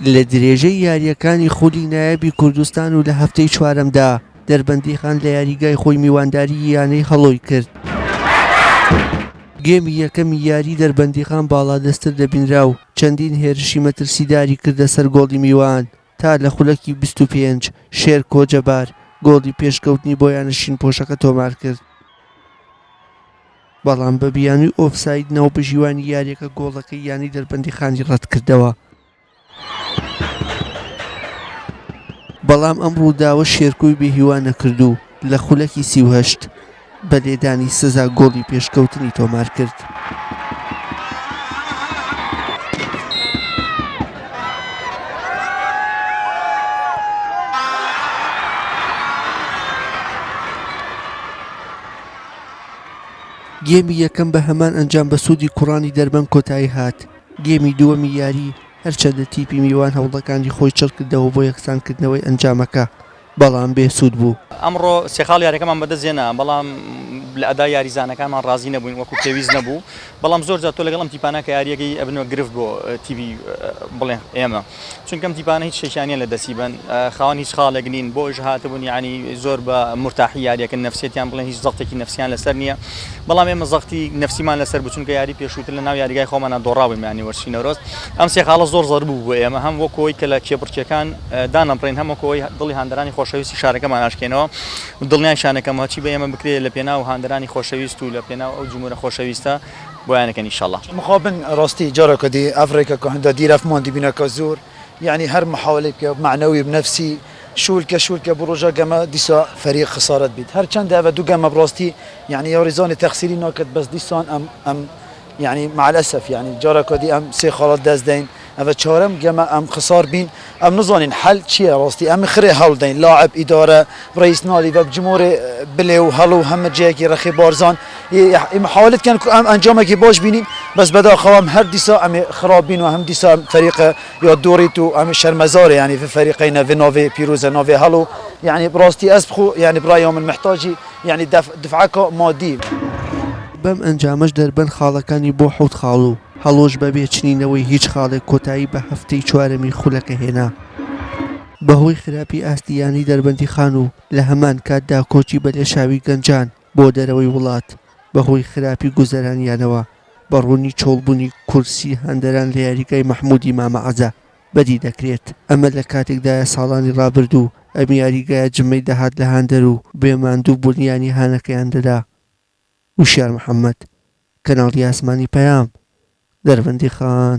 لە درێژەی یارییەکانی خولی نایابی کوردستان و لە هەفتەی چوارەمدا دەربەندیخان لە یاریگای خۆی میوانداری یانەی هەڵۆی کرد. گێمی یەکەمی یاری دەربەندیخان باڵادەستر دەبینرا و چەندین هێرشی مەترسیداری کردە سەر گۆڵی میوان تا لە خولەکی 25 شێر کۆجەبار گۆڵی پێشکەوتنی بۆ یانە شین پۆشەکە تۆمار کرد. بەڵام بە بیانووی ئۆفساید ناوبژیوانی یارییەکە گۆڵەکەی یانەی دەربەندیخانی رەتکردەوە. بەڵام ئەم رووداوە شێرکۆی بێهیوا نەکرد و لە خولەکی سی و هەشت بە لێدانی سزا گۆڵی پێشکەوتنی تۆمارکرد. گێمی یەکەم بە هەمان ئەنجام بە سوودی کوڕانی دەربەن کۆتایی هات. گێمی دووەمی یاری، هەرچەندە تیپی میوان هەوڵەکانی خۆی چڕ کردەوە بۆ یەکسانکردنەوەی ئەنجامەکە، بەڵام بێ سوود بوو. ئەمڕۆ سێ خاڵ یارییەکەمان بەدەست هێنا، بەڵام لە ئەدای یاریزانەکانمان ڕازی نەبووین، وەکو پێویست نەبوو، بەڵام زۆر جار تۆ لەگەڵ ئەم تیپانە کە یارییەکەی ئەبنەوە گرفت بۆ تیپی بڵێن ئێمە. چونکە ئەم تیپانە هیچ شتێکیان نییە لە دەستی بەن خاوەن هیچ خاڵێک نین بۆ ئەویش هاتبوون یعنی زۆر بە مورتاحی یاریەکە نفسێتیان بڵێن هیچ زەختێکی نفسیان لەسەر نییە بەڵام ئێمە زەختی نفسیمان لەسەر بچونکە یاری پێشووتر لە ناو یاریگای خۆمانە دۆڕاویم یانی وەرشی نەورۆز ئەم سێ خاڵە زۆر زەر بوو بۆ ئێمە هەم وەکۆی کە لە کێبڕکێکان دانەبڕین هەمەکۆی دڵی هاندرانی خۆشەویستی شارەکەمان ناشکێنەوە دڵنیای شانەکەمەوە چی بە ئێمە بکرێت لە پێناو هاندرانی خۆشەویست و لە پێناو ئەو جمهورە خۆشەویستە بۆیان کەن ئیشەڵا. مخابن راستی جارەکە دی ئەڤرەیکە کە هندە دیرەف مان دی بینە کە زور یەعنی هەر محاولەی بکەێ مەعنەوی و نەفسی شول کە شول کە بو روژا گەمە دیسا فەریق خسارەت بیت هەر چەندە ئەڤە دو گەمە راستی یەعنی یاریزانی تەقسیری ناکەت بەس دیسان ئەم ئەم یەعنی مەعەلەسەف یەعنی جارەکە دی ئەم سێ خاڵات دەس دەین ئەڤە چارەم گەمە ئەم خسار بین ئەم نزانین حەل چیە ڕاستی ئەم خرێ هەوڵ دەین لاعب ئیدارە ڕەیس نالی ڤە بجمۆرێ بلێ و هەڵ و هەمە جێەکی ڕەخێ بارزان ی محاولت کەن کو ئەم ئەنجامەکی باش بینین بەس بەداخەوە ئەم هەر دیسا ئەمێ خراب بین و هەم دیسا ئەم فەریقە یا دوڕیت و ئەمێ شەرمەزارێ یانی ڤ فەریقەینە ڤ ناڤێ پیروزە ناڤێ هەڵ و یانی بڕاستی ئەز بخو یانی بڕایا من محتاجی یانی دەفعەکا مادی. بەم ئەنجامەش دەربەن خاڵەکانی بۆ حەوت خاڵ و. هەڵۆش بەبێ چنینەوەی هیچ خاڵێک کۆتایی بە هەفتەی چوارەمی خولەکە هێنا بەهۆی خراپی ئاستی یانەی دەربەندیخان و لە هەمان کاتدا کۆچی بە لێشاوی گەنجان بۆ دەرەوەی وڵات بەهۆی خراپی گوزەرانیانەوە بە ڕوونی چۆڵبوونی کورسی هاندەران لە یاریگای مەحمودی مامە عەزە بەدی دەکرێت ئەمە لە کاتێکدایە ساڵانی ڕابردوو ئەم یاریگایە جمەی دەهات لە هاندەر و بێ ماندوو بوون یانی هانەکەیان دەدا. وشیار محەمەد، کەناڵی ئاسمانی پەیام، دەربەندیخان،